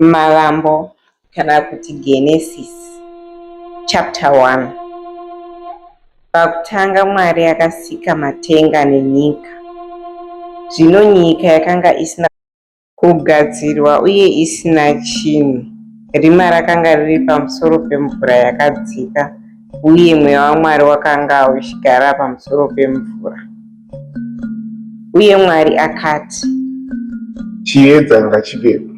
Mavambo kana kuti Genesis chapter 1 Pakutanga Mwari akasika matenga nenyika. Zvino nyika yakanga isina Kugadzirwa uye isina chinhu. Rima rakanga riri pamusoro pemvura yakadzika, uye mweya waMwari wakanga uchigara pamusoro pemvura. Uye Mwari akati, Chiedza ngachivepo.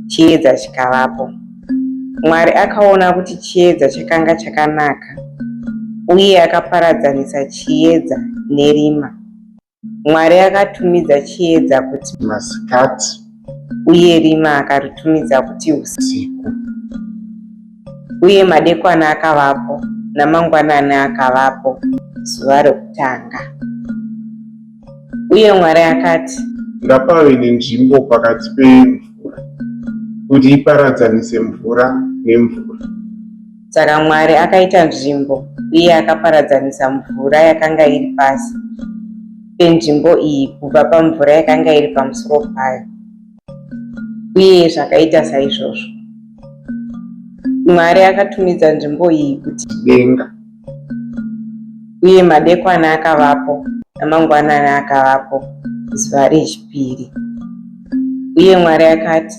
Chiedza chikavapo. Mwari akaona kuti chiedza chakanga chakanaka, uye akaparadzanisa chiedza nerima. Mwari akatumidza chiedza kuti masikati, uye rima akaritumidza kuti usiku. Uye madekwana akavapo, namangwanani akavapo, zuva rokutanga. Uye Mwari akati, Ngapave nenzvimbo pakati pemvura, kuti iparadzanise mvura nemvura. Saka Mwari akaita nzvimbo uye akaparadzanisa mvura yakanga iri pasi penzvimbo iyi kubva pamvura yakanga iri pamusoro payo, uye zvakaita saizvozvo. Mwari akatumidza nzvimbo iyi kuti denga, uye madekwana akavapo namangwanani akavapo zuva rechipiri. Uye Mwari akati,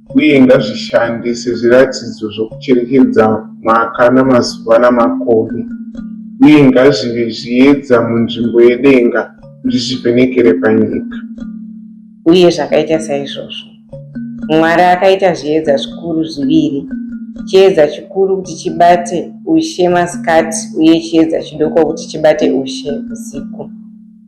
uye ngazvishande sezviratidzo zvokucherekedza mwaka namazuva namakore, uye ngazvive zviedza munzvimbo yedenga kuti zvivhenekere panyika. Uye zvakaita saizvozvo. Mwari akaita zviedza zvikuru zviviri, chiedza chikuru kuti chibate ushe masikati uye chiedza chidoko kuti chibate ushe usiku.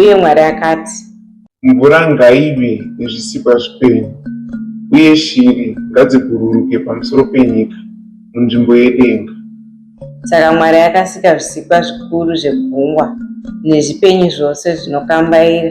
Uye Mwari akati, Mvura ngaive nezvisikwa zvipenyu, uye shiri ngadzibhururuke pamusoro penyika munzvimbo yedenga. Saka Mwari akasika zvisikwa zvikuru zvegungwa nezvipenyu zvose zvinokambaira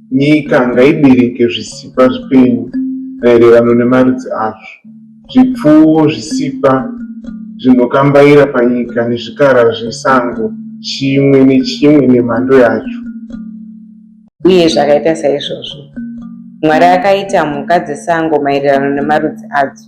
Nyika ngaibereke zvisikwa zvipenyu maererano nemarudzi azvo, zvipfuwo, zvisikwa zvinokambaira panyika nezvikara zvesango, chimwe nechimwe nemhando yacho. Uye zvakaita saizvozvo Mwari akaita mhuka dzesango maererano nemarudzi adzo,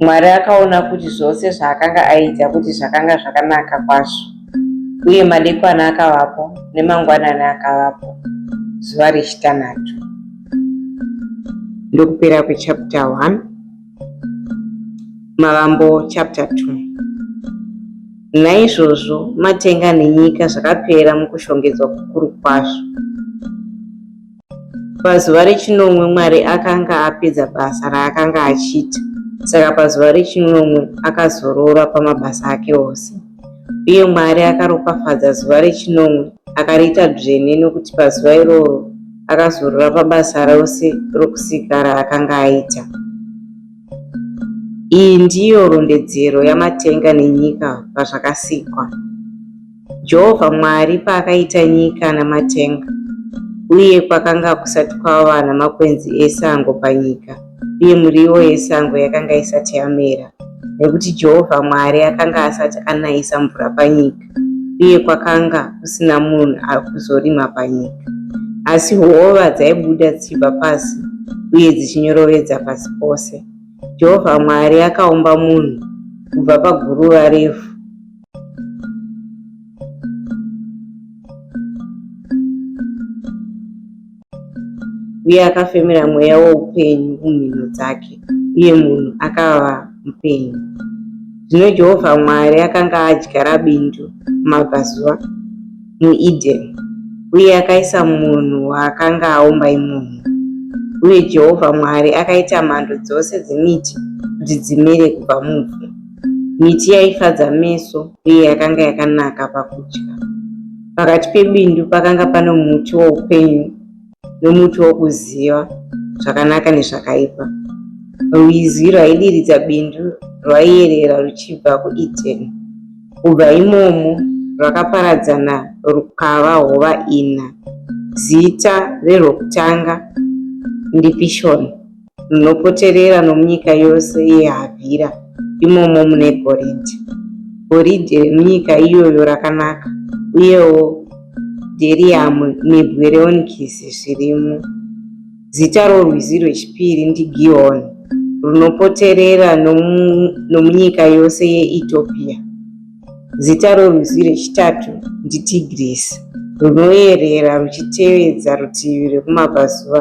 Mwari akaona kuti zvose zvaakanga aita kuti zvakanga zvakanaka kwazvo, uye madekwana akavapo nemangwanani akavapo, zuva rechitanhatu. Ndokupera kwechapter 1 Mavambo chapter 2 Naizvozvo matenga nenyika zvakapera mukushongedzwa kukuru kwazvo. Pazuva rechinomwe Mwari akanga apedza basa raakanga achiita, saka pazuva rechinomwe akazorora pamabasa ake ose. Uye Mwari akaropafadza zuva rechinomwe akariita dzvene nokuti pazuva iroro akazorora pabasa rose rokusika raakanga aita. Iyi ndiyo rondedzero yamatenga nenyika pazvakasikwa. Jehovha Mwari paakaita nyika namatenga, uye kwakanga kusati kwava namakwenzi esango panyika, uye muriwo yesango yakanga isati yamera, nekuti Jehovha Mwari akanga asati anayisa mvura panyika, uye kwakanga kusina munhu akuzorima panyika. Asi hova dzaibuda dzichibva pasi uye dzichinyoroveza pasi pose. Jehovha Mwari akaumba munhu kubva paguruva revhu uye akafemera mweya woupenyu mumhino dzake uye munhu akava mupenyu zvino jehovha mwari akanga adyara bindu mumabvazuva muedeni uye akaisa munhu waakanga aumba imomo uye jehovha mwari akaita mhando dzose dzemiti kuti dzimere kubva muvhu Miti yaifadza meso uye yakanga yakanaka pakudya. Pakati pebindu pakanga pano muti woupenyu nomuti wokuziva zvakanaka nezvakaipa. Rwizi rwaidiridza bindu rwaiyerera ruchibva kuEdeni. Kubva imomo rwakaparadzana rukava hova ina. Zita rerwokutanga ndiPishoni. runopoterera nomunyika yose yeHavhira, imomo mune goridhe. Goridhe remunyika iyoyo rakanaka, uyewo dheriyamu nebwe reonikisi zvirimo. Zita rorwizi rwechipiri ndiGihoni, runopoterera nomunyika yose yeEtiopiya, Zita rorwizi rwechitatu ndiTigris, runoyerera ruchitevedza rutivi rwekumabvazuva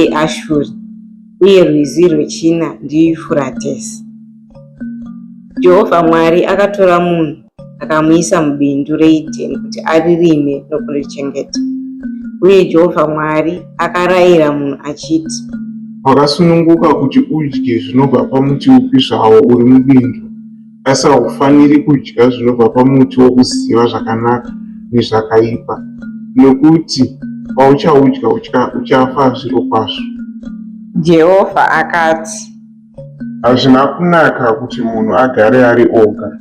eAshuri, uye rwizi rwechina ndiYufuratesi. Jehovha Mwari akatora munhu akamuisa mubindu reEdheni kuti aririme nokurichengeta. Uye Jehovha Mwari akarayira munhu achiti, Wakasununguka kuti udye zvinobva pamuti upi zvawo uri mubindu, Asi haufaniri kudya zvinobva pamuti wokuziva zvakanaka nezvakaipa, nokuti pauchaudya uchafa zvirokwazvo. Jehovha akati. Hazvina kunaka kuti munhu agare ari oga.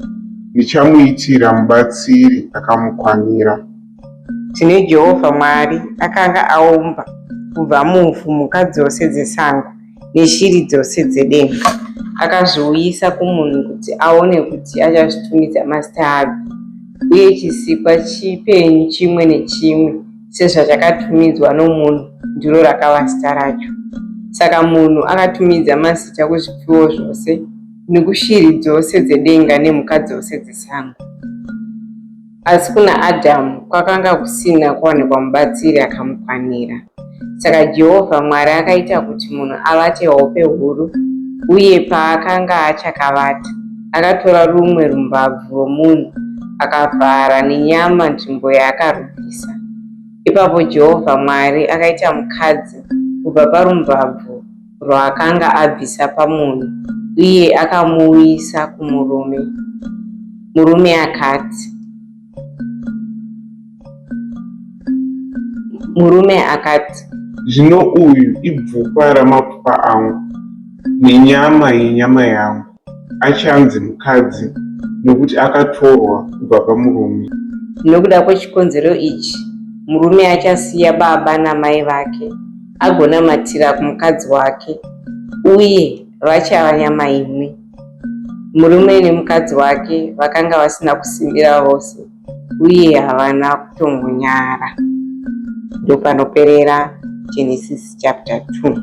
Ndichamuitira mubatsiri akamukwanira. Tine Jehovha Mwari akanga aumba kubva muvhu mhuka dzose dzesango neshiri dzose dzedenga akazviuyisa kumunhu kuti aone kuti achazvitumidza mazita api uye chisikwa chipenyu chimwe nechimwe sezvachakatumidzwa nomunhu ndiro rakava zita racho saka munhu akatumidza mazita kuzvipfuwo zvose nekushiri dzose dzedenga nemhuka dzose dzesango Asi kuna Adhamu kwakanga kusina kuwanikwa mubatsiri akamukwanira. Saka Jehovha Mwari akaita kuti munhu avate hope huru, uye paakanga achakavata, akatora rumwe rumbabvu rwomunhu akavhara nenyama nzvimbo yaakarubvisa. Ipapo Jehovha Mwari akaita mukadzi kubva parumbabvu rwaakanga abvisa pamunhu uye akamuuyisa kumurume. Murume akati, Murume akati, Zvino uyu ibvupa ramapfupa angu nenyama yenyama yangu. achanzi mukadzi nokuti akatorwa kubva pamurume. Nokuda kwechikonzero ichi, murume achasiya baba namai vake agonamatira kumukadzi wake uye vachava nyama imwe. Murume nemukadzi wake vakanga vasina kusimbira vose uye havana kutongonyara. Ndopanoperera Genesis chapter 2.